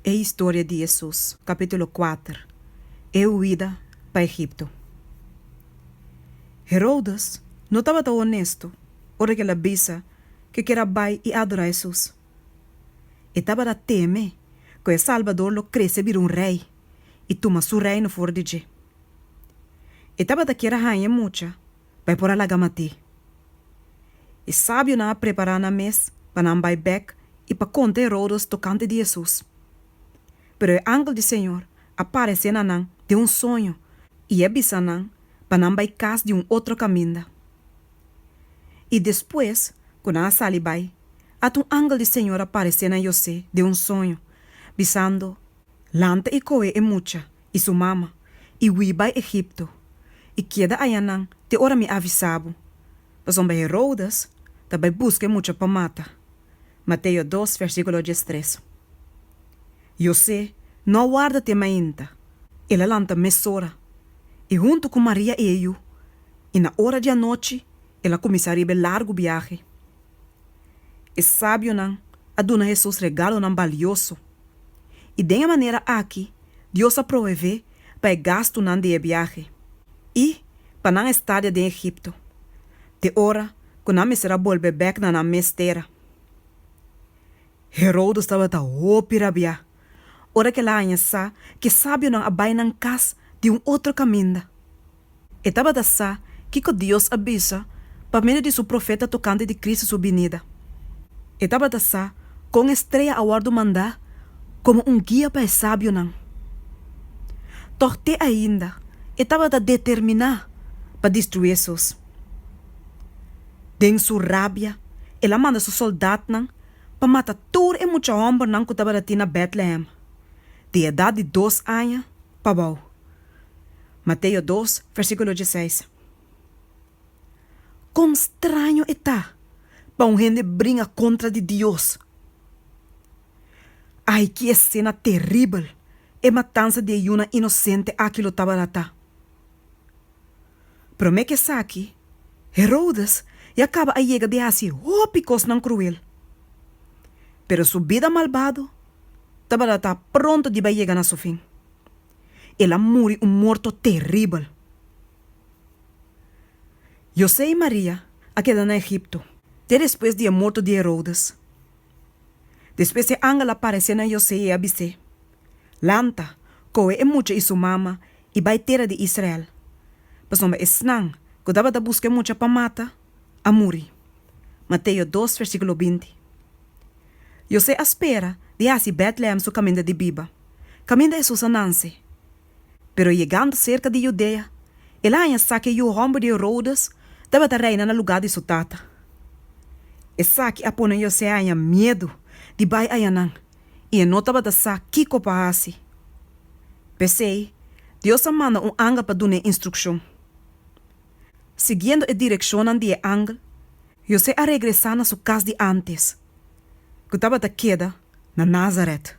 E historia di Hesus. Capítulo kuater E huida pa Egipto Herodes no tabata honesto ora ku el a bisa ku e kier a bai i adorá Hesus. E tabata teme ku e Salbador lo krese bira un rei i tuma su reino for di dje. E tabata kier a haña e mucha pa e por a laga mat'é. E sabionan a prepará nan mes pa nan bai bèk i pa konta e roudos tokante di Hesus. Pero e angel di Señor a paresé na nan den un soño i e a bisa nan pa nan bai kas di un otro kaminda. I despues ku nan a sali bai, at un angel di Señor a paresé na José den un soño, bisando, Lanta i kohe e mucha i su mama, i hui bai Egipto, i keda ayanan te ora mi a avisa bo, pasobra Heroudes ta bai buska e mucha pa mata. Mateo dos versíkulo diestres. José no a warda te mainta, el a lanta mesora, i huntu ku Maria i e yu, i na ora di anochi El a kuminsá riba e largu biahe. E sabionan a duna Hesus regalonan balioso, i den e manera aki Dios a provevé pa e gastunan di e biahe i pa nan estadia den Egipto te ora ku nan mester a bolbe bèk na nan mes tera. Herodes tabata hopi rabiá ora ku el a haña sa ku e sabionan a bai nan kas di un otro kaminda. E tabata sa kiko Dios a bisa pa medio di su profeta tokante di Cristo su binida. E tabata sa kon e strea a wòrdu mandá komo un guia pa e sabionan. Tòg te ainda e tabata determiná pa destruí esos. Den su rabia el a manda su sòldatnan pa mata tur e mucha hòmbernan ku tabata tin na Bètlehem, di edat di dos aña pa bou. Mateo dos, versíkulo dieseis. Kon straño e ta pa un hende bringa kontra di Dios! Ai, ki esena teribel e matansa di e yunan inosente aki lo tabata ta! Promé ku esaki, Herodes ya kaba a yega di hasi hopi kosnan kruel. Pero su bida malbado tabata ta pronto diba yega na su fin. El a muri un morto teribel. José i Maria a keda na Egipto. Te despues di e morto di Herodes. Despues e angel a paresé na José i e a bis'é, Lanta, kohe e mucha i su mama i bai tera di Israel, pasobra esnan ku tabata buska e mucha pa mata, a muri. Mateo dos versíkulo binti. José a spera di hasi Bètlehem su kaminda di biba, kaminda Hesus a nanse. Pero yegando serka di Judea, el a haña sa ku e yu hòmber di Herodes tabata reina na lugá di su tata. Esaki a pone José haña miedu di bai ayanan i e no tabata sa kiko pa hasi. P'esei, Dios a manda un angel pa dun'é instrukshon. Siguiendo e direccionnan di e angel, José a regresa na su cas di antes, cu tabata keda na Nazaret.